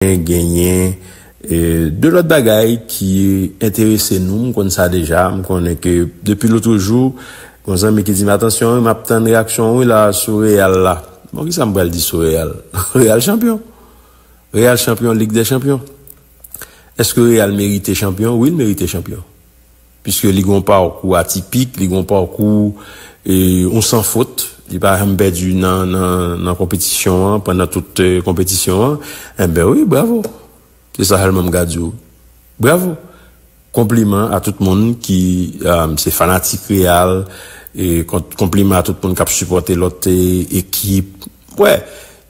Men genyen 2 lòt bagay ki enterese nou, m konn sa deja, m konnen ke depi lotrejou gon zanmi ki di m atansyon wi map tann reyaksyon w wi la sou Real la. Bon ki sa m pral di sou Real? Real chanpyon! Real chanpyon Lig dè chanpyon! Eske Real merite chanpyon? Wi l merite chanpyon. Piske li gen yon pakou atipik, li gen yon pakou yon san fot, li pa janm pèdi nan konpetisyon an, pandan tout konpetisyon an, enben wi, bravo! Se sa sèlman m ka di w. Bravo! Konpliman a tout moun ki se fanatik Real, konpliman a tout moun k ap sipòte lòt ekip. Wè,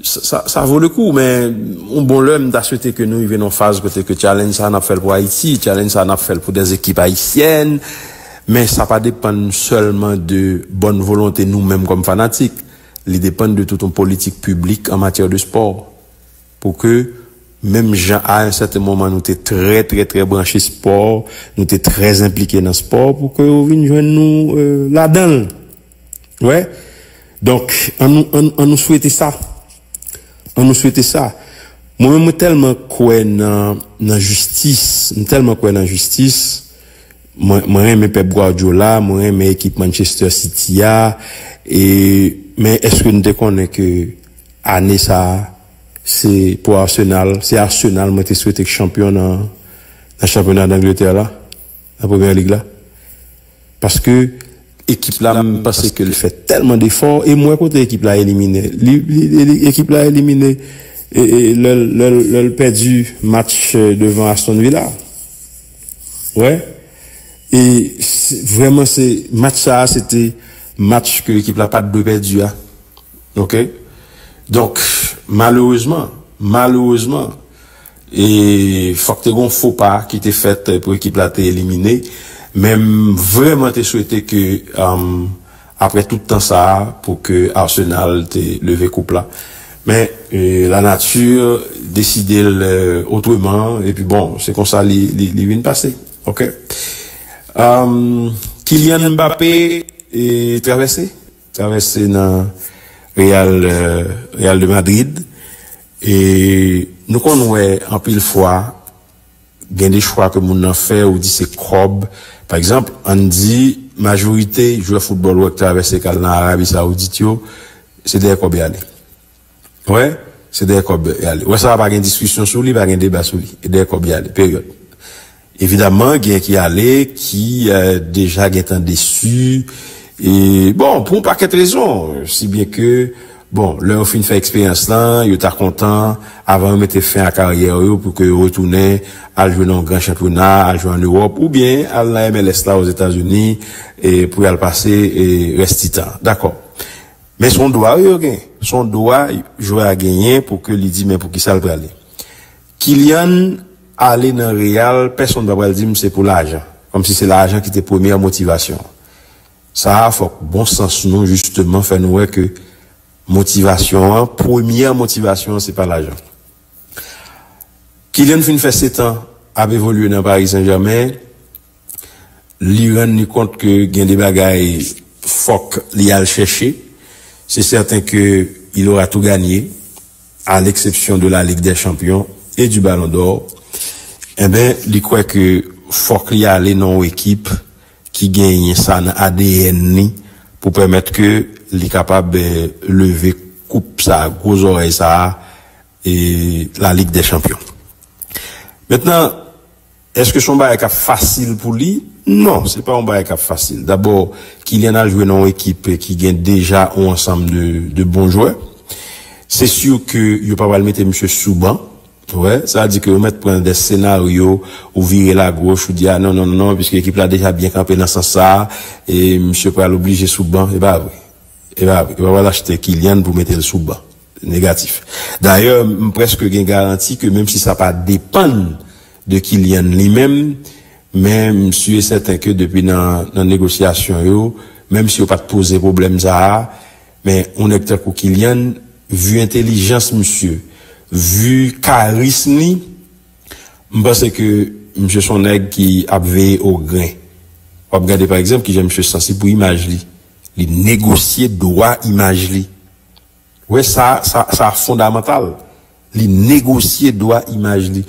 sa vo le kou, men yon bon lè m ta swete ke nou rive nan yon faz kote ke challenge sa a n ap fè l pou Ayiti, challenge sa a n ap fè l pou dè ekip ayisyèn, men sa pa depann sèlman de bòn volonte nou menm kòm fanatik, li depann de tout yon politik piblik an matyè de spò, pou ke menm jan a yon sèten moman nou te trè trè trè branche spò, nou te trè enplike nan spò, pou ke yo vin jwenn nou ladan l. Wè Donk an nou an nou swete sa An nou swete sa Mwen menm mwen tèlman kwè nan nan jistis M tèlman kwè nan jistis Mwen mwen renmen Pep Guardiola Mwen renmen ekip Manchester City a e Men èske nou te konnen ke Ane sa Se pou Arsenal Se Arsenal mwen te swete k chanpyon nan Nan chanpyona D'Angleterre la Nan Premier League la Paske ekip la m panse ke l fè tèlman defò e m wè kote ekip la elimine li. Ekip la elimine lè l pèdi match devan Aston Villa. Ou wè? E vrèman se match sa a se te match ke ekip la pa t dwe pèdi a. Ok? Donk malerezman, malerezman. E fòk te gen yon fo pa ki te fèt pou ekip la te elimine. Men m vrèman te swete ke aprè tout tan sa a pou ke Arsenal te leve koup la. Men la nati deside l otreman epi bon se konsa li vin pase. Ok. Kylian Mbappé travèse travèse nan Real de Madrid. E nou konn wè anpil fwa gen de chwa ke moun nan fè ou di se kòb. Pa egzanp, ann di majorite jwè foutbòl ou wè k travèse k al nan Arabi Sawoudit yo, se dèyè kòb y ale. Wè? Se dèyè kòb y ale. Wè sa a pa gen diskisyon sou li, pa gen deba sou li. E dèyè kòb y ale. Peryòd. Evidaman gen ki ale ki deja gentan desu e bon pou yon pakèt rezon si byen ke bon lè yo fin fè eksperyans lan yo ta kontan avan yo mete fen a karyè yo pou ke yo retounen al jwe nan yon gran chanpyona al jwe an Ewòp ou byen al nan MLS la Ozetazini e pou yal pase e rès ti tan dakò men son dwa wi yo gen son dwa jwè a genyen pou ke li di men poukisa l prale. Kylian ale nan Real pèsonn pa pral dim se pou lajan, kòmsi se lajan ki te premyè motivasyon. Sa a fòk bon sans nou jisteman fè nou wè ke motivasyon an, premyè motivasyon an se pa lajan. Kylian fin fè setan ap evolye nan Paris Saint Germain, li rann li kont ke gen de bagay fòk li al chèche, se sèten ke il aura tout gagné. a leksepsyon de la Ligue des Champions et du Ballon d'Or, enben li kwè ke fòk li ale nan yon ekip ki genyen sa nan adn li pou pèmèt ke li kapab leve koup sa, gwo zòrèy sa a, la Ligue des Champions. Mentnan. Èske se yon bagay k ap fasil pou li? Non, se pa yon bagay k ap fasil. Dabò, Kylian al jwe nan yon ekip ki gen deja yon ansanm de bon jwè. Se si ke yo pa pral mete misye sou ban. Ou wè? Sa vle di ke yo mèt pran dè senaryo, ou vire l agoch, ou di a non, non, non, piske ekip la deja byen kanpe nan sans sa a, e misye pral oblije sou ban. E pa vre. E pa vre. Yo pa pral achte Kylian pou mete l sou ban. Negatif. Dayè, m prèske gen garanti ke menm si sa pa depann. de Kylian li menm, men m sûr et certain ke depi nan nan negosyasyon yo, menm si yo pat poze pwoblèm sa a, men yon nèg tankou Kylian, vu entelijans misye, vu karism li, m panse ke misye son nèg ki ap veye o gren. Wap gade pa egzanp kijan misye sansib pou imaj li, li negosye dwa imaj li. Wè sa, sa fondamantal. Li negosye dwa imaj li.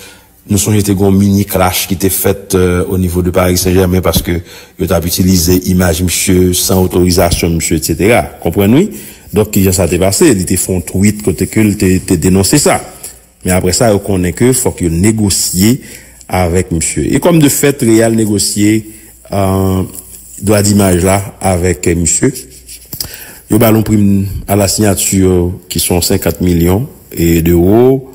Nou sonje te gen yon mini clash ki te fèt o nivo de Paris Saint Germain paske yo tap itilize imaj misye san otorizasyon misye etc. Konprann wi. Donk kijan sa te pase? Li te fè yon tweet kote ke li te denonse sa. Men aprè sa yo konnen ke fòk yo negosye avèk misye. E kòm de fèt Real negosye dwa dimaj la avèk misye. Yo ba l yon prim a la sinyati ki son 50 milyon dewo.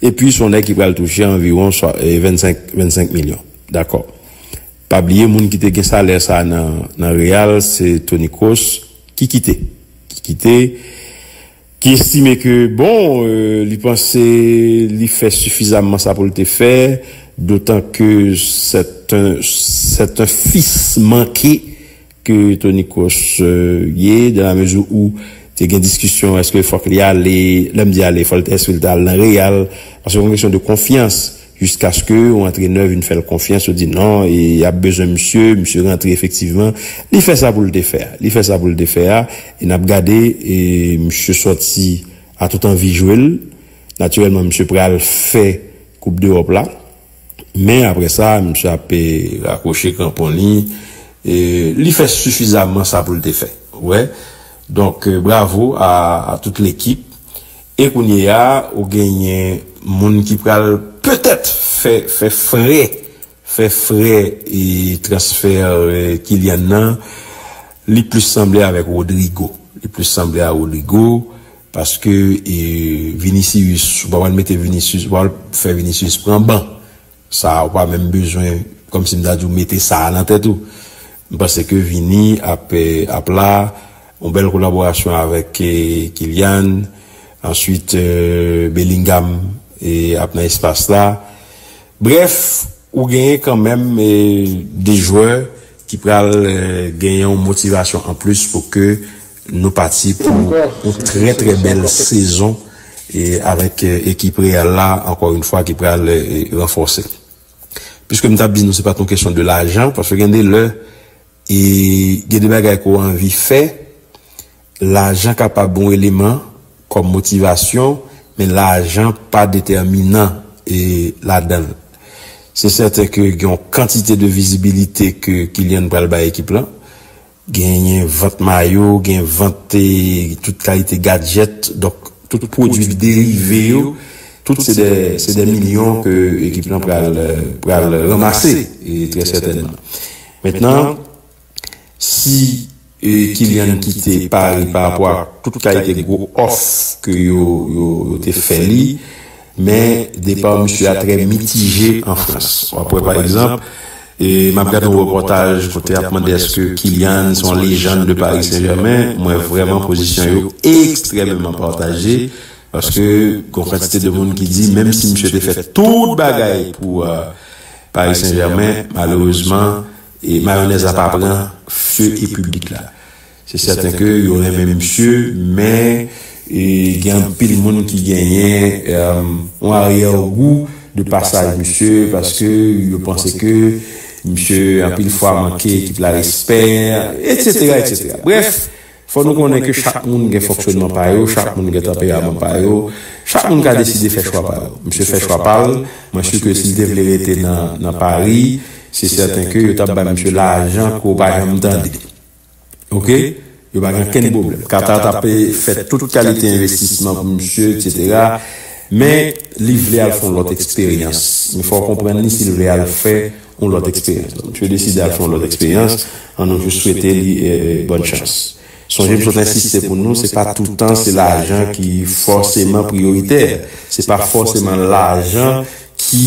E pi son nèg ki pral touche anviwon 25 milyon. Dakò. Pa bliye moun ki te gen salè sa nan Real se Toni Kroos ki kite. Ki kite. ki estime ke bon li panse li fè sifizamman sa pou l te fè dotan ke sèt an fis manke ke Toni Kroos ye dan la mezi ou te gen diskisyon eske fòk li ale lè m di ale fòk eske li ta al nan Real paske gon kesyon de konfyans Jiskaske yon antrenè vin fè l konfyans, yo di non, e y ap bezwen misye, misye rantre efektivman, li fè sa pou l te fè a, li fè sa pou l te fè a, e n ap gade, e misye sòti a tout anvi jwe l, natirèlman misye pral fè koup dewòp la, men aprè sa misye ap. Rakwoche kranpon li, e li fè sifizamman sa pou l te fè, ou wè, donk bravo a tout lekip. E kounyeya ou genyen moun ki pral petèt fè frè fè frè transfer Kylian nan li plis sanble avèk Rodrygo li plis sanble a Rodrygo paske Vinicius ou pa pral mete Vinicius ou pa pral fè Vinicius pran ban Sa a ou pa menm bezwen kòm si m ta di w mete sa a nan tèt ou. M panse ke Vini ap ap la, yon bèl kolaborasyon avèk Kylian, answit Bellingham ap nan espas la. Brèf, ou genyen kanmenm 2 jwè ki pral genyen yon motivasyon anplis pou ke Nou pati pou yon trè trè bèl sezon avèk ekip Real la ankò yon fwa ki pral ranfòse. Piske m t ap di nou se pat yon kesyon de lajan paske gen de lè gen de bagay ke w anvi fè lajan kapab yon eleman kòm motivasyon men lajan pa detèminan ladan l. Se sèten ke gen yon kantite de vizibilite ke Kylian pral bay ekip lan Genyen vant mayo, gen vant tout kalite gadjèt, donk tout pwodui derive yo, tout se dè milyon ke ekip lan pral ranmase trè sètènman. Mentnan, si Kylian kite Paris parapò ak tout kalite gwo òf ke yo te fè li, Men, depa misye a trè mitije an Frans. W ap wè pa egzanp, m ap gad yon repòtaj kote y ap mande èske Kylian se yon lejann de Paris Saint-Germain, m wè vrèman pozisyon yo ekstrèmeman pataje paske gen yon kantite de moun ki di menm si misye te fè tout bagay pou Paris Saint-Germain, malerezman, mayonèz la pa pran feu e piblik la. Se sèten ke yo renmen misye, men gen anpil moun ki genyen yon aryè gou de pasaj misye paske yo panse ke misye anpil fwa manke ekip la respè, etsetera etsetera. Brèf, fò nou konnen ke chak moun gen fonksyonman pa yo, chak moun gen tanperaman pa yo, chak moun ka deside fè chwa pa yo. Misye fè chwa pa l, mwen si ke si l te vle rete nan Pari, se sèten ke yo t ap bay misye lajan ke w pa janm tande. Ok yo pa gen okenn pwoblèm. Qatar ta pe fè tout kalite envestisman pou misye etc. Men li vle al fè yon lòt eksperyans. Men fò w konprann li si l vle al fè yon lòt eksperyans. Donk misye deside al fè yon lòt eksperyans. An nou jis swete li bòn chans. Sonje m sot ensiste pou nou se pa toutan se lajan ki fòseman priyoritè. Se pa fòseman lajan ki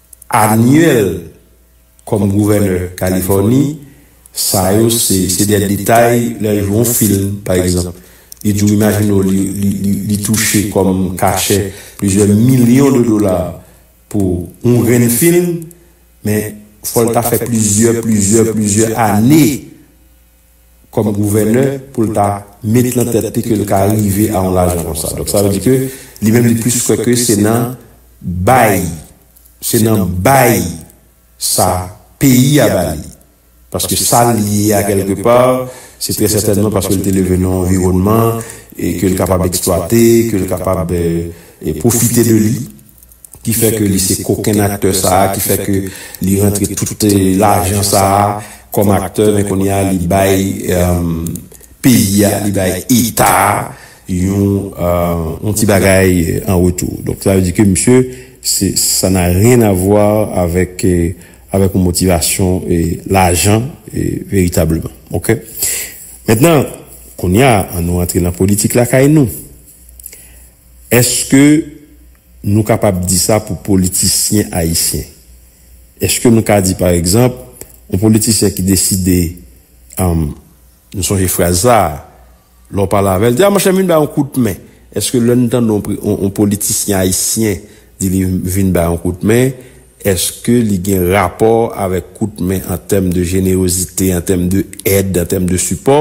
anyèl kòm gouvènè kalifòni sa yo se se de detay lè l jwe yon film pa egzanp li di w imajine w li touche kòm kachè plizyè milyon de dola pou yon grenn film men fò l ta fè plizyè plizyè plizyè ane kòm gouvènè pou l ta met lan tèt li ke l ka rive a yon lajan konsa. Donk sa vle di ke li menm li plis kwè ke se nan bay, se nan bay sa peyi a ba li. Paske sa l ye a kèlke pa, se trè sètènman paske l te leve nan yon anviwònman ke l kapab eksplwate, ke l kapab pwofite de li. ki fè ke li se koken aktè sa a, ki fè ke li rantre tout lajan sa a kòm aktè, men kounye a li bay peyi a, li bay eta a yon ti bagay an retou. Donk sa vle di ke misye, sa na ryen avwa avèk yon motivasyon lajan veritableman. Ok. Mentnan, kounye a, an nou rantre nan politik lakay nou. Eske Nou kapab di sa pou politisyen ayisyen. Eske nou ka di pa egzanp, yon politisyen ki deside, am, m sonje fraz sa a, lè w pale avè l, di a monchè m vin ba yon kout men. Eske lè n tande yon pri, yon politisyen ayisyen di li vin ba yon kout men, eske li gen rapò avèk kout men an tèm de jenerozite, an tèm de èd, an tèm de sipò?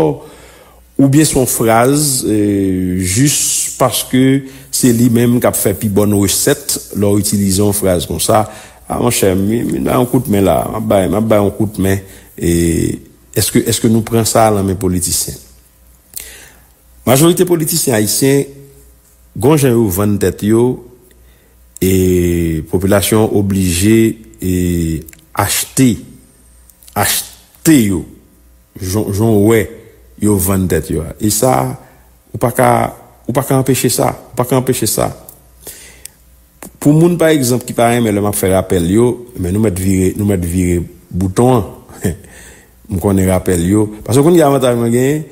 Oubyen se yon fraz jis paske se li menm k ap fè pi bòn resèt lè w itilize yon fraz konsa, A monchè, m vin bay yon kout men la, m ap bay yon kout men. Èske nou pran sa lan men politisyen? Majorite politisyen ayisyen gen yon jan yo vann tèt yo. E popilasyon an oblije achte, achte yo, jan w wè yo vann tèt yo a. E sa, ou pa ka, ou pa ka anpeche sa, ou pa ka anpeche sa. Pou moun pa egzanp ki pa renmen lè m ap fè rapèl yo, men nou mèt vire, nou mèt vire bouton an. M konnen rapèl yo, paske w konn ki avantaj mwen genyen,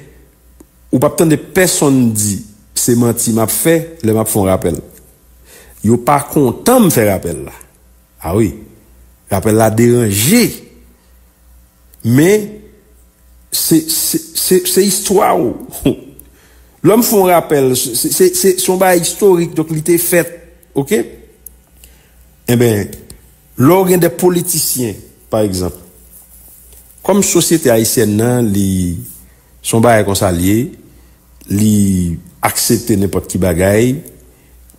ou p ap tande pèsonn di se manti m ap fè lè m ap fè yon rapèl. Yo pa kontan m fè rapèl la. A wi. Rapèl la deranje. Men, se, se, se, se istwa w. Lè m fè yon rapèl, se, se, se yon bagay istorik, donk li te fèt. Ok? Enben, lè w gen de politisyen, pa egzanp, kòm sosyete ayisyèn nan li. Se yon bagay konsa li ye, li aksepte nenpòt ki bagay,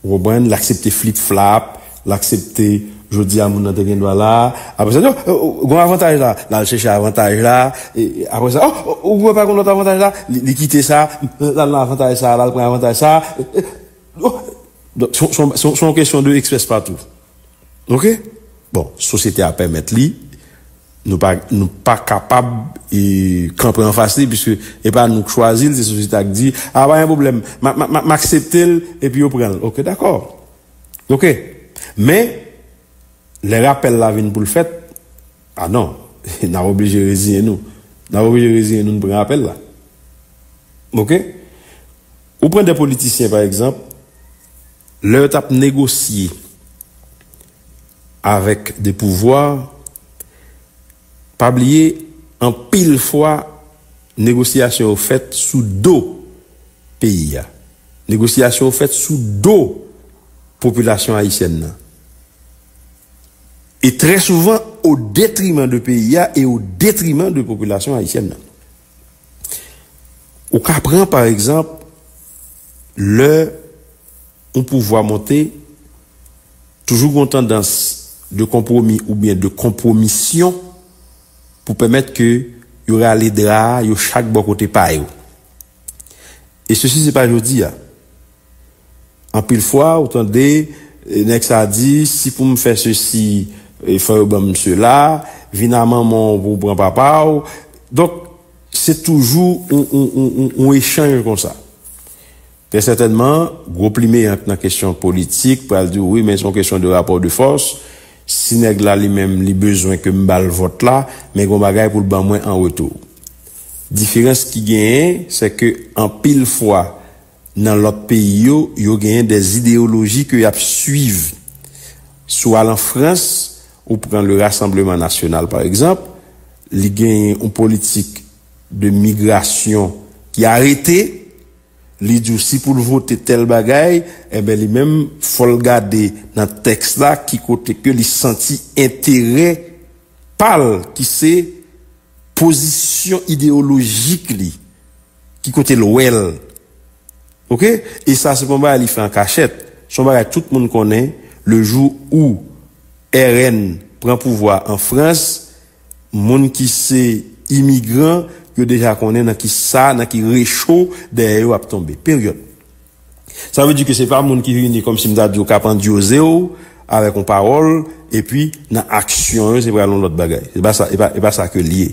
ou konprann, li aksepte flip flap, li aksepte jodi a moun nan te gendwa la, aprè sa li di oh, gen yon avantaj la, li al chèche avantaj la, aprè sa oh, ou wè pa gen yon lòt avantaj la, li kite sa, li al nan avantaj sa, li al pran avantaj sa, oh, donk se yon kesyon de eksprespatou. Ok bon sosyete a pèmèt li nou pa nou pa kapab e kanpe anfas li piske e pa nou k chwazil se sosyete a k di a pa gen pwoblèm m akseptel epi yo pranl ok dakò ok men lè rapèl la vin poul fèt a non nap oblije reziyen nou nap oblije reziyen nou n pran apèl la ok ou pran de politisyen pa egzanp. Lè yo tap negosye avèk de pouvwa, pa bliye anpil fwa negosyasyon yo fèt sou do peyi a, negosyasyon yo fèt sou do popilasyon ayisyèn nan. E trè souvan o detriman de peyi a e o detriman de popilasyon ayisyèn nan. Ou ka pran pa egzanp lè yon pouvwa monte toujou gen yon tandans de konpwomi oubyen de konpwomisyon pou pèmèt ke yo rale dra a yo chak bò kote pa yo. E sesi se pa jodi a. Anpil fwa ou tande nèg sa di si pou m fè sesi fò yo ban m sela, vin a manman w pou w pran papa w. Donk se toujou yon echanj konsa. Trè sètènman gwo plimeyank nan kesyon politik pral di w wi men se yon kesyon de rapò de fòs. Si nèg la li menm li bezwen ke m ba l vòt la men gen yon bagay pou l ban mwen an retou. Diferans ki genyen se ke anpil fwa. Nan lòt peyi yo, yo genyen de ideyoloji ke yap swiv. Si w al an Frans, ou pran le Rassemblement National pa egzanp, li genyen yon politik de migrasyon ki arete, li di w si pou l vote tèl bagay, enben li menm fò l gade nan tèks la ki kote ke li santi enterè pa l ki se pozisyon ideyolojik li. Ki kote l wè l? Ok e sa se pa yon bagay li fè an kachèt se yon bagay tout moun konnen le jou ou RN pran pouvwa an frans moun ki se imigran yo deja konnen nan ki sa nan ki recho dèyè yo ap tonbe peryòd. Sa vle di ke se pa moun ki vini kòm si m ta di w k ap andyoze w avèk yon pawòl epi nan aksyon yo se pral yon lòt bagay. Se pa sa, e pa sa ke l ye.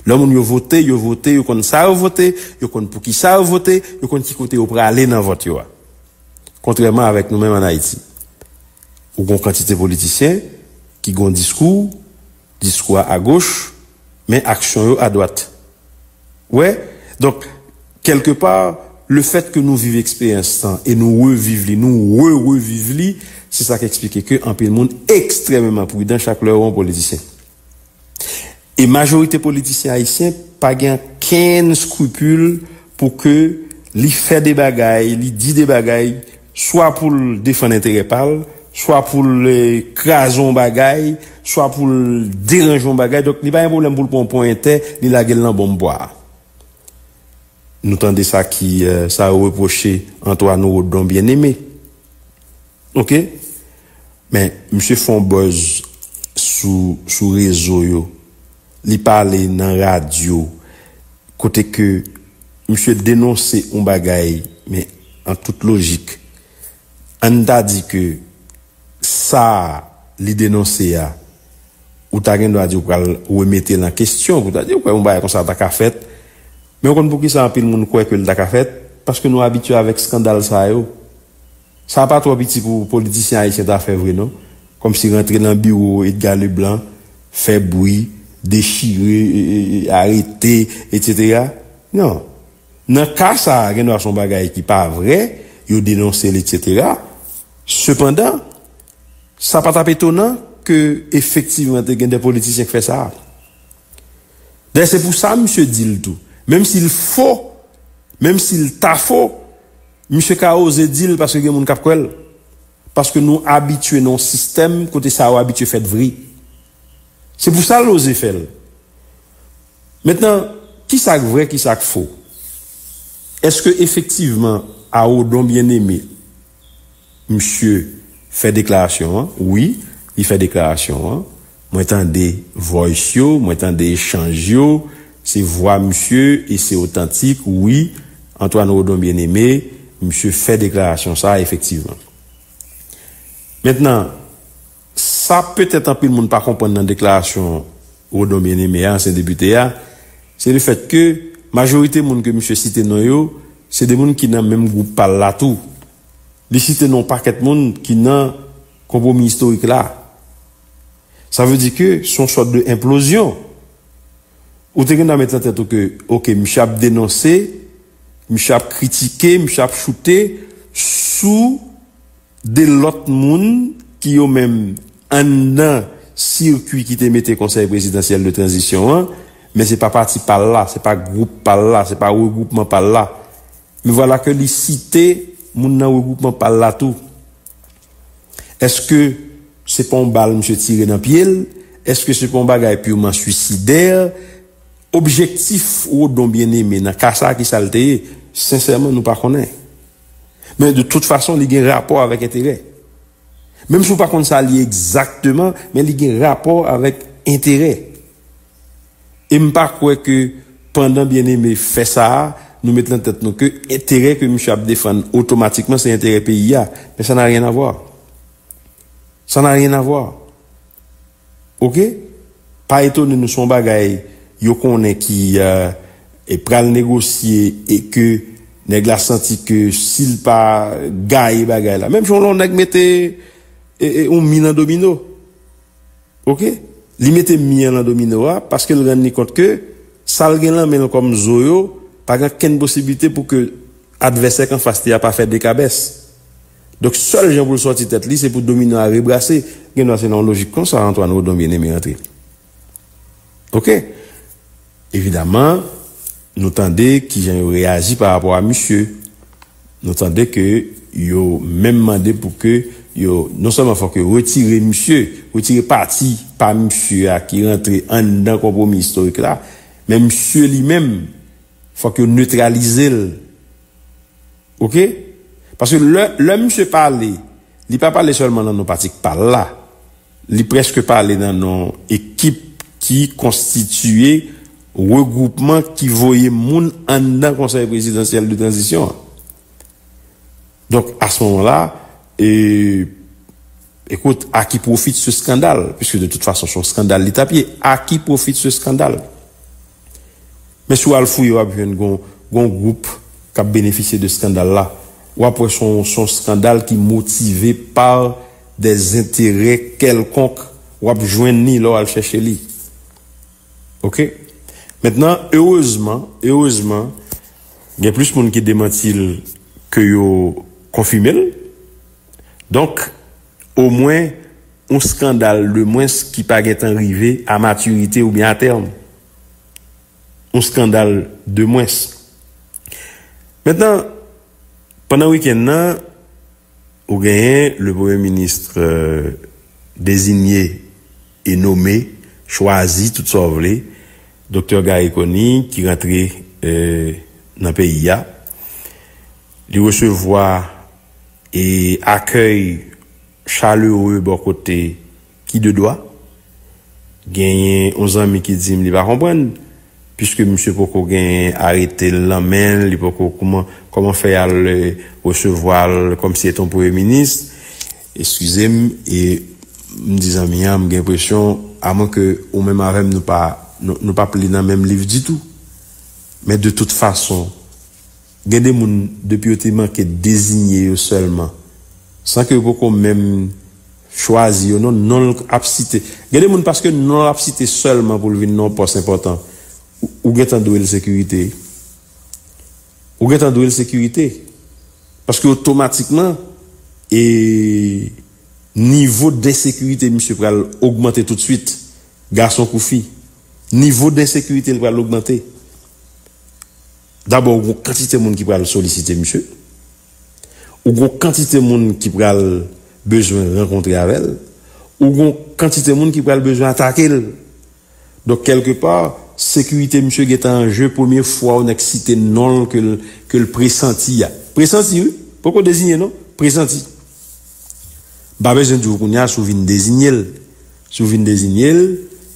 Lè moun yo vote, yo vote, yo konn sa yo vote, yo konn pou ki sa yo vote, yo konn ki kote yo prale nan vòt yo a. Kontrèman avèk nou menm an Ayiti. Ou gen yon kantite politisyen ki gen yon diskou. Diskou a agoch, men aksyon yo adwat. Ou wè? Donk, kèlke pa, lefèt ke nou viv eksperyans tan e nou reviv li, nou re-reviv li, se sa k eksplike ke anpil moun ekstrèmeman pridan chak lè yo wè yon politisyen. E majorite politisyen ayisyen pa gen ankenn skrupil pou ke li fè de bagay, li di de bagay, swa pou l defann enterè pa l, swa pou l kraze yon bagay, swa pou l deranje yon bagay. Donk, li pa gen pwoblèm pou l pran yon ponyète, li lage l nan bonm bwa a. Nou tande sa ki, sa yo repwoche Antoine Rodon Bien-Aimé. Ok? Men, misye fè yon buzz sou rezo yo. Li pale nan radyo kote ke misye denonse yon bagay men an tout lojik ann ta di ke sa li denonse a ou ta gen dwa di ou pral remete l an kesyon pou ta di ou kwè yon bagay konsa ta ka fèt men ou konn poukisa anpil moun kwè ke l ta ka fèt paske nou abitye avèk skandal sa yo. Sa pa twò piti pou politisyen ayisyen ta fè vre non, kòmsi rantre nan biwo Edgar Leblanc, fè bwi, dechire, arete, etc. Non. Nan ka sa a, gen dwa son bagay ki pa vre, yo denonse l etc. Sepandan, sa pa t ap etonan ke efektivman te gen de politisyen k fè sa a. Dayè se pou sa misye di l tou, menm si l fo, menm si l ta fo, Misye ka oze dil paske gen moun kap kwèl paske nou abitye nan yon sistèm kote sa yo abitye fèt vre se pou sal oze fèl mentnan kisak vrè kisak fo eske efektivman a odon byen eme Misye fè deklarasyon an wi li fè deklarasyon an mwen tande voice yo mwen tande echanj yo se vwa misye e se otantik wi Antoine Rodon Bien Aimé misye fè deklarasyon sa efektivman mentnan sa petèt anpil moun pa konprann nan deklarasyon Rodon Bien Aimé a ansyen depite a se le fèt ke majorite moun ke misye site non yo se de moun ki nan menm gwoup pal la tou Li site non pakèt moun ki nan konpwomi istorik la. Sa vle di ke se yon sòt de enplozyon. Ou te gen dwa met nan tèt ou ke ok misye ap denonse, misye ap kritike, misye ap choute sou de lòt moun ki yo menm anndan sikwi ki te mete konsèy prezidansyèl de tranzisyon an, men se pa pati pa l la, se pa gwoup pa l la, se pa regwoupman pa l la. Me voilà que li site moun nan regwoupman pa l la tou. Eske se pa yon bal misye tire nan pye l? Eske se pa yon bagay purement suicidaire? Objektif Rodon Bien-Aimé nan ka sa a ki sa l te ye? Sensèman nou pa konnen. Men de tout fason li gen rapò avèk enterè. Menm si w pa konn sa li ye egzakteman, men li gen rapò avèk enterè. E m pa kwè ke pandan Bien-Aimé fè sa a, nou met nan tèt nou ke enterè ke misye ap defann otomatikman se enterè peyi a. Men sa n'a rien à voir. Sa n'a rien à voir. Ok? Pa etone nou, se yon bagay yo konnen ki pral negosye e ke nèg la santi ke si l pa gaye bagay la, menm jan lè yon nèg mete yon mi nan domino, Ok li mete mi an lan domino a paske l rann li kont ke sa l gen lan men l kòm zo yo pa gen okenn posiblite pou ke advèsè k anfas li a pa fè 2 kabès. Donk sèl jan pou l sòti tèt li se pou domino a rebrase. Gen dwa se nan yon lojik konsa Antoine Rodon Bien-Aimé antre. Ok Evidaman, nou tande ki jan yo reyaji pa rapò a misye. Nou tande ke yo menm mande pou ke yo, non sèlman fòk yo retire misye, retire pati pa misye a ki rantre anndan konpwomi istorik la, men misye li menm, fòk yo netralize l. Ok? Paske lè, lè misye pale, li pa pale sèlman nan non pati k pa l la. Li prèske pale nan non ekip ki konstitiye regwoupman ki voye moun anndan Konsèy Prezidansyèl de Tranzisyon an. Donk, a s moman la, ekout, a ki pwofit se skandal? Piske de tout fason, s on skandal li t ap ye. A ki pwofit se skandal? Men si w al fouye w ap jwenn gon gon gwoup k ap benefisye de skandal la. W ap wè s on s on skandal ki motive pa dè zenterè kèlkonk. W ap jwenn li lè w al chèche li. Ok. Mentnan, erezman, erezman, gen plis moun ki demanti l ke yo konfime l. Donk. Omwen, yon skandal de mwens ki pa gentan rive a matirite oubyen a tèm. Yon skandal de mwens. Mentnan, pandan wikenn nan, ou genyen le premye minis dezinye e nome, chwazi, tout sa w vle, Doktè Garry Conille ki rantre nan peyi a. Li resevwa. e akèy chaleureux bò kote ki de dwa. Genyen yon zanmi ki di m li pa konprann, piske misye poko gen arete l nan men l, li poko kouman, kòman fè y al resevwa l kòm si l te yon premye minis? Eskize m, e m di zanmi an m gen enpresyon, amwen ke ou menm avè m nou pa, nou pa p li nan menm liv ditou. Men de tout fason. Gen de moun, depi yo te manke dezinye yo sèlman, san ke yo poko menm chwazi yo non, non l ap site. Gen de moun paske non l ap site sèlman pou l vin nan yon pòs enpòtan, ou gen tan dwe l sekirite. Ou gen tan dwe l sekirite. Paske otomatikman, e nivo densekirite misye pral ogmante toutswit, gason kou fi. Nivo densekirite l pral ogmante. Dabò ou gon kantite moun ki pral solisite misye, ou gon kantite moun ki pral bezwen rankontre avè l, ou gon kantite moun ki pral bezwen atake l. Donk kèlke pa, sekirite misye gen tan an je premye fwa yon nèg site non l ke l presanti a. Presanti wi, poko deziyen non, presanti. M pa bezwen di w kounye a si w vin dezinye l. Si w vin dezinye l,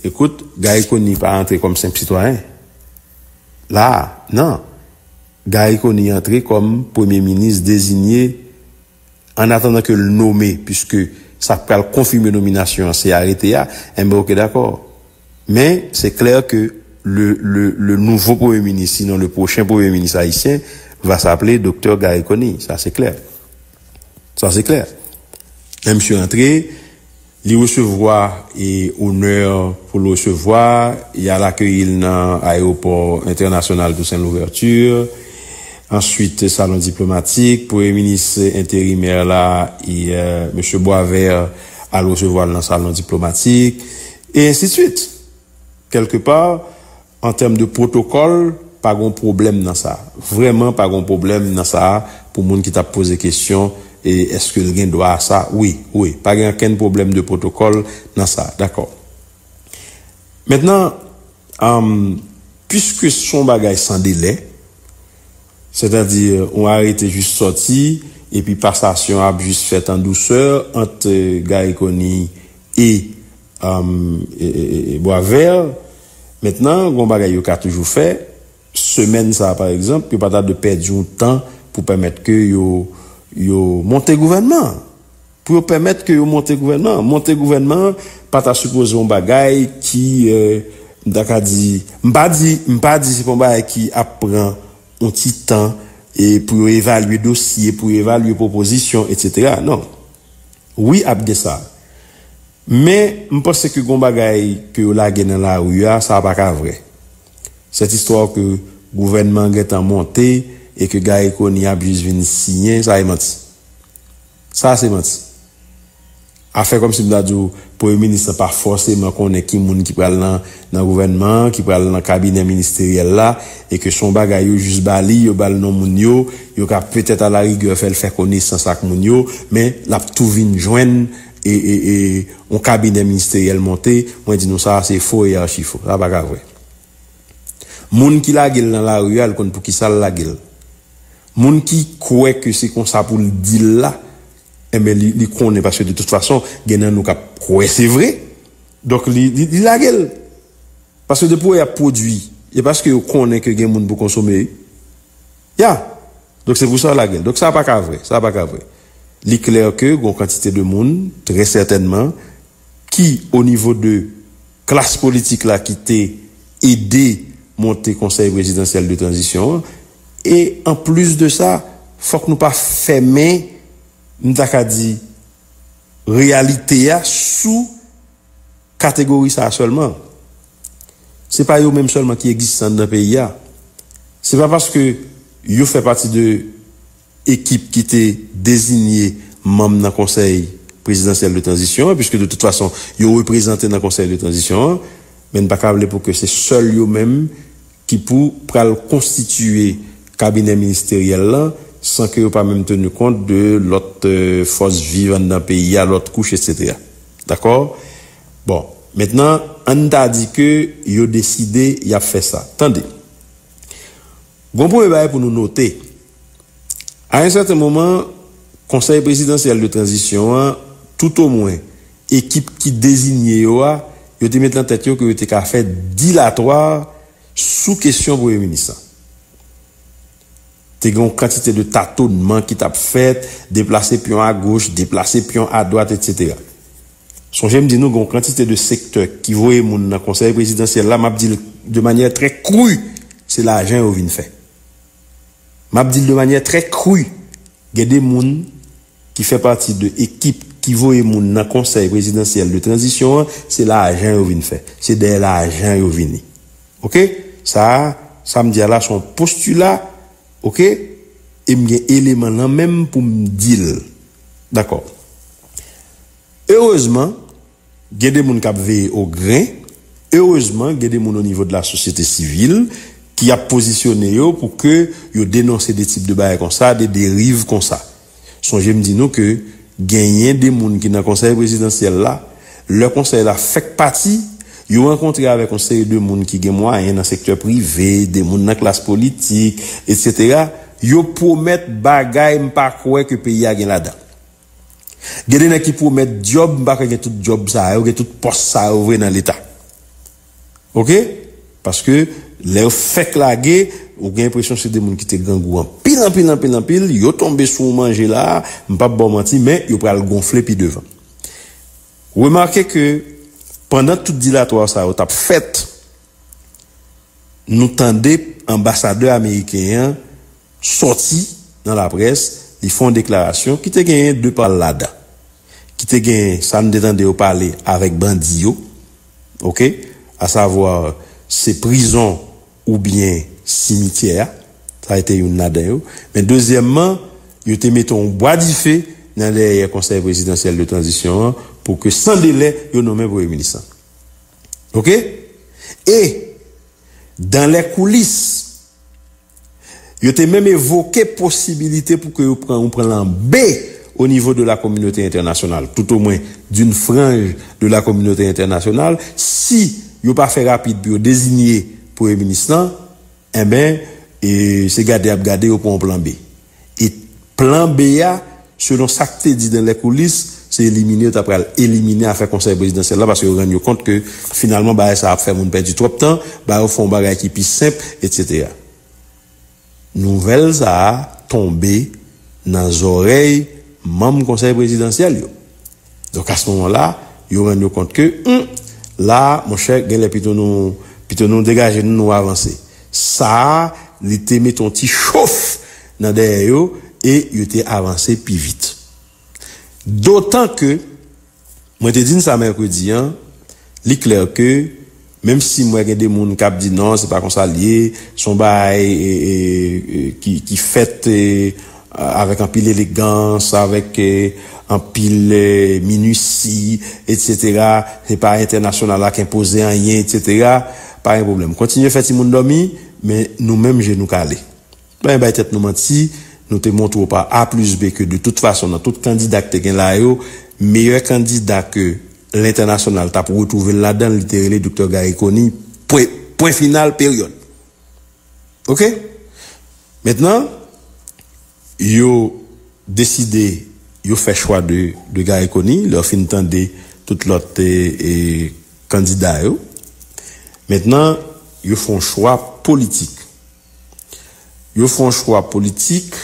ekout, Garry Conille pa antre kòm senp sitwayen. La a, nan, Garry Conille antre kòm premye minis dezinye ann atandan ke l nome, piske sa k pral konfime nominasyon an se arete a, enben oke dakò. Men, se klè ke le, le, le nouvo premye minis, sinon le pwochen premye minis ayisyen va saple Doktè Garry Conille. Sa se klè. Sa se klè. Lè misye antre. Li resevwa e onè pou l resevwa, y al akeyi l nan Ayewopò Entènasyonal Toussaint Louverture. Answit Salon Diplomatik, Premye Minis Enterimè la, Mesye Boisvert, al resevwa l nan Salon Diplomatik, e ensi de swit. Kèlke pa, An tèm de pwotokòl, pa gon pwoblèm nan sa. Vrèman pa gon pwoblèm nan sa pou moun ki t ap poze kesyon e èske l gen dwa a sa. Wi, wi, pa gen ankenn pwoblèm de pwotokòl nan sa. Dakò. Mentnan, am, piske s on bagay san delè, sètadi on arete jis sòti epi pasasyon ap jis fèt an dousè ant Garry Conille e, am, e, e, e, e Boisvert, Mentnan, gen yon bagay yo ka toujou fè, semèn sa a pa egzanp, yo pa ta dwe pèdi yon tan pou pèmèt ke yo, yo monte gouvènman an. Pou yo pèmèt ke yo monte gouvènman an. Monte gouvènman an pa ta sipoze yon bagay ki, m ta ka di, m pa di, m pa di se pa yon bagay ki ap pran yon ti tan e pou yo evalye dosye, pou yo evalye pwopozisyon, etsetera. Non. Wi ap gen sa. Men, m panse ke gon bagay ke yo lage nan lari a, sa a pa ka vrè. Sèt istwa ke gouvènman an gentan monte e ke Garry Conille ap jis vin siyen, sa e manti. Sa a se manti. A fè kòmsi m ta di w premye minis lan pa fòseman konnen ki moun ki pral nan nan gouvènman an, ki pral nan kabinè ministeryèl la e ke se yon bagay yo jis ba li, yo ba l non moun yo, yo ka petèt alarigè fè l fè konesans ak moun yo, men l ap tou vin jwenn. e e e yon kabinè ministeryèl monte mwen di nou sa a se fo e archi fo sa paka vre moun ki lage l nan lari a li konn pou kisa l lage l moun ki kwè ke se konsa pou l di l la enben li li konnen paske de tout fason gen nan nou k ap kwè se vre donk li li lage l paske depi w wè y ap pwodui e paske yo konnen ke gen moun pou konsome wi ya. Donk se pou sa yo lagel. Donk sa pa ka vre. Sa pa ka vre. Li klè ke gon kantite de moun, trè sètènman, ki o nivo de klas politik la ki te ede monte konsèy prezidansyèl de tranzisyon an. E an plis de sa, fòk nou pa fèmen, m ta ka di, reyalite a sou. kategori sa a sèlman. Se pa yo menm sèlman ki egziste anndan peyi a. Se pa paske yo fè pati de ekip ki te dezinye manm nan konsèy prezidansyèl de tranzisyon an, piske de tout fason yo reprezante nan konsèy de tranzisyon an, men n pa ka vle pou ke se sèl yo menm ki pou pral konstitiye kabinè ministeryèl lan san ke yo pa menm tenu kont de lòt fòs viv anndan peyi a, lòt kouch, etsetera. Dakò? Bon, mentnan, an n ta di ke yo deside y ap fè sa. Tande! Gon premye bagay pou nou note. A yon sèten moman, Konsèy Prezidansyèl de Tranzisyon an, toutomwen, ekip ki dezinye yo a, yo te met lan tèt yo ke yo te ka fè dilatwa sou kesyon Premye Minis lan. Te gen yon kantite de tatonman ki t ap fèt, deplase pyon agoch, deplase pyon adwat, etsetera. Sonje m di nou gen yon kantite de sektè ki voye moun nan Konsèy Prezidansyèl la, m ap di l de manyè trè kru, se lajan yo vin fè. M ap di l de manyè trè kru, gen de moun ki fè pati de ekip ki voye moun nan Konsèy Prezidansyèl de Tranzisyon an, se lajan yo vin fè. Se dèyè lajan yo vini. Ok sa sam di a la son postula ok em gen eleman nan menm poum dil dakò erezman gen de moun kap veye o gren erezman gen de moun o nivo de la sosyete sivil ki ap pozisyone yo pou ke yo denonse de tip de bagay konsa de deriv konsa. Sonje m di nou ke genyen 2 moun ki nan konsèy prezidansyèl la, lè konsèy la fèk pati, yo rankontre avèk yon seri de moun ki gen mwayen nan sektè prive, de moun nan klas politik, etc. Yo pwomèt bagay m pa kwè ke peyi a gen ladan. Gen de nèg ki pwomèt dyòb, m pa kwè gen tout dyòb sa yo, gen tout pòs sa yo vre nan leta. Ok paske lè yo fèk lage ou gen enpresyon se 2 moun ki te grangou anpil anpil anpil anpil yo tonbe sou yon manje la m pap baw manti men yo pral gonfle pi devan remake ke pandan tout dilatwa sa yo tap fèt nou tande anbasadè ameriken an sòti nan laprès li fè yon deklarasyon ki te genyen 2 pal ladan ki te genyen sa nou te tande yo pale avèk bandi yo. ok a savoir se prizon ou byen simityè a sa ete youn ladan yo men dezyèmman yo te mete yon bwa dife nan dèyè konsèy prezidansyèl de tranzisyon an pou ke san delè yo nonmen premye minis lan ok e dan lè koulis. Yo te menm evoke posibilite pou ke yo pran yon plan B o nivo de la kominote entènasyonal, tout o mwen d'une frange de la kominote entènasyonal, si yo pa fè rapid pou yo dezinye premye minis lan, enben, se gade y ap gade yo pran yon plan B. E plan B a, selon sa k te di dan lèkoulis, se elimine yo ta pral elimine afè konsèy prezidansyèl la paske yo rann yo kont ke finalman bagay sa ap fè moun pèdi twòp tan, ba yo fè yon bagay ki pi senp, etsetera. Nouvèl sa a tonbe nan zòrèy manm konsèy prezidansyèl yo. Donk a s moman la, yo rann yo kont ke, hum! La a, monchè, gen lè pito nou, pito nou degaje nou, nou avanse. Sa a, li te mete yon ti chof nan dèyè yo e yo te avanse pi vit. Dotan ke, mwen te di n sa mèkredi an, li klè ke Menm sim wè gen de moun kap di non se pa konsa l ye, se yon bagay ki fèt avèk anpil elegans, avèk anpil minusi etsetera, se pa entènasyonal la k enpoze anyen etsetera, pa gen pwoblèm kontinye fè timoun dòmi men nou menm je nou kale. Ann bay tèt nou manti, nou te montre w pa A plis B ke de tout fason nan tout kandida k te gen la yo, meyè kandida ke lentènasyonal t ap retwouve l ladan l, li te rele Doktè Gary Conille, pwen, pwen final, peryòd. Ok? Mentnan, yo deside, yo fè chwa de de Gary Conille, lè yo fin tande tout lòt kandida yo. Mentnan, yo fè yon chwa politik. Yo fè yon chwa politik,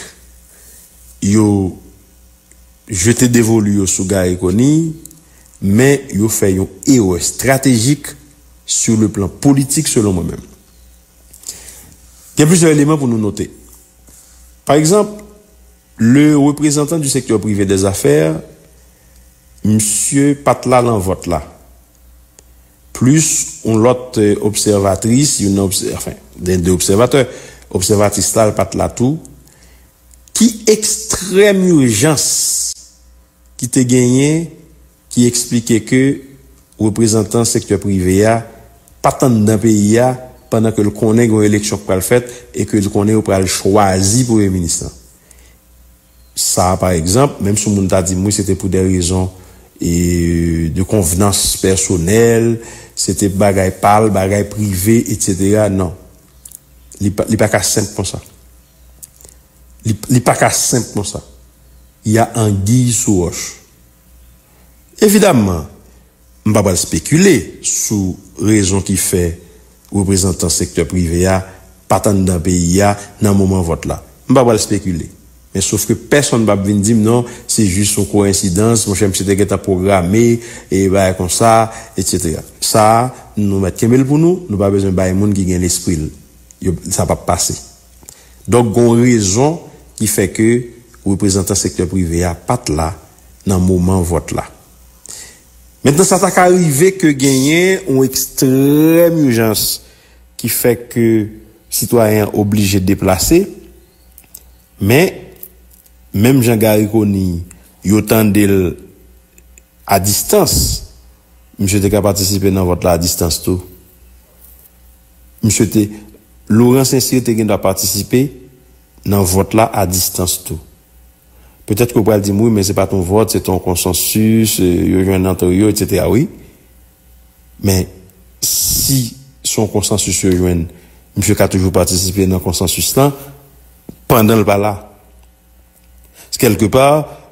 yo jete devolu yo sou Garry Conille, men yo fè yon erè estratejik sou le plan politik selon mwen menm. Gen plizyè eleman pou nou note. Pa egzanp, le reprezantan di sektè prive dè zafè, misye pa t la lan vòt la. Plis, yon lòt obsèvatris, youn nan, anfen, gen de obsèvatè, obsèvatris la pa t la tou, ki ekstrèm ijans ki te genyen ki eksplike ke reprezantan sektè prive a pa t anndan peyi a pandan ke l konnen gen yon eleksyon k pral fèt e ke l konnen yo pral chwazi premye minis lan? Sa a pa egzanp, menm si yon moun ta di m wi se te pou dè rezon de konvnans pèsonèl, se te bagay pa l, bagay prive, etsetera, non. Li pa ka senp konsa. Li pa ka senp konsa. Y a anguiy sou wòch. Evidamman! M pa pral spekile sou rezon ki fè reprezantan sektè prive a pa t anndan peyi a nan moman vòt la. M pa pral spekile. Men sof ke pèsonn pa p vin di m non se jis yon koensidans, monchè misye te gentan pwograme e bagay konsa, etsetera. Sa a, nou mèt kenbe l pou nou, nou pa bezwen bay moun ki gen lespri l. Yo, sa pa p pase. Donk gen yon rezon ki fè ke reprezantan sektè prive a pa t la nan moman vòt la. Mentnan sa ta ka rive ke genyen yon ekstrèm ijans ki fè ke sitwayen an oblije deplase, men, menm jan Garry Conille, yo tande l a distans, misye te ka patisipe nan vòt la a distans tou. Misye te, Laurent Saint-Cyr te gen dwa patisipe nan vòt la a distans tou. Petèt ke ou pral di m, wi men se pa t yon vòt, se te yon konsansis, yo jwenn antre yo, etsetera wi. Men, si se yon konsansis yo jwenn, misye ka toujou patisipe nan konsansis lan pandan l pa la. Kèlke pa,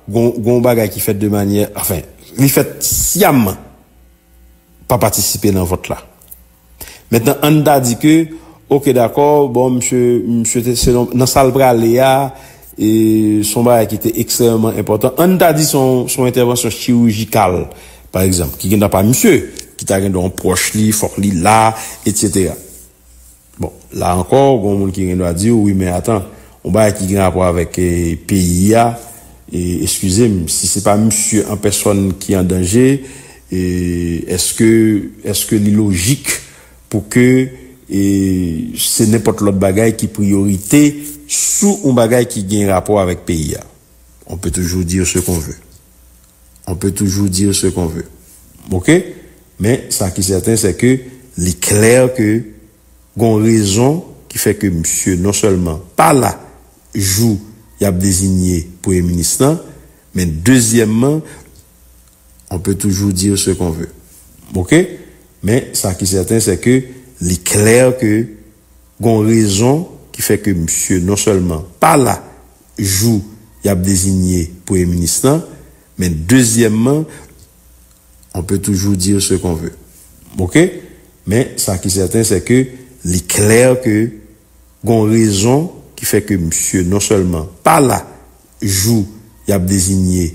gen yon bagay ki fèt de manyè, anfen, li fèt syaman pa patisipe nan vòt la. Mentnan ann ta di ke ok dakò bon misye misye te se yon nan sal prale a e son bagay ki te ekstrèmeman enpòtan ann ta di son son entèvansyon chirijikal pa egzanp ki gen nan pa misye ki ta gen yon pwòch li fòk li la etsetera bon la ankò gon moun ki gen dwa di ou wi men atan yon bagay ki gen rapò avèk peyi a e eskizem si se pa misye an pèsòn ki an danje. E eske eske li lojik pou ke e se nenpòt lòt bagay ki priyorite sou yon bagay ki gen rapò avèk peyi a? On peut toujours dire ce qu'on veut. On peut toujours dire ce qu'on veut. Ok? Men sa ki sèten se ke li klè ke gon rezon ki fè ke misye non sèlman pa la jou y ap dezinye premye minis lan, men dezyèmman On peut toujours dire ce qu'on veut. Ok? Men sa ki sèten sè ke li klè ke gon rezon ki fè ke misye non sèlman pa la jou y ap dezinye premye minis lan, men dezyèmman, on peut toujours dire ce qu'on veut. Ok? Men sa ki sèten sè ke li klè ke gon rezon ki fè ke misye non sèlman pa la jou y ap dezinye.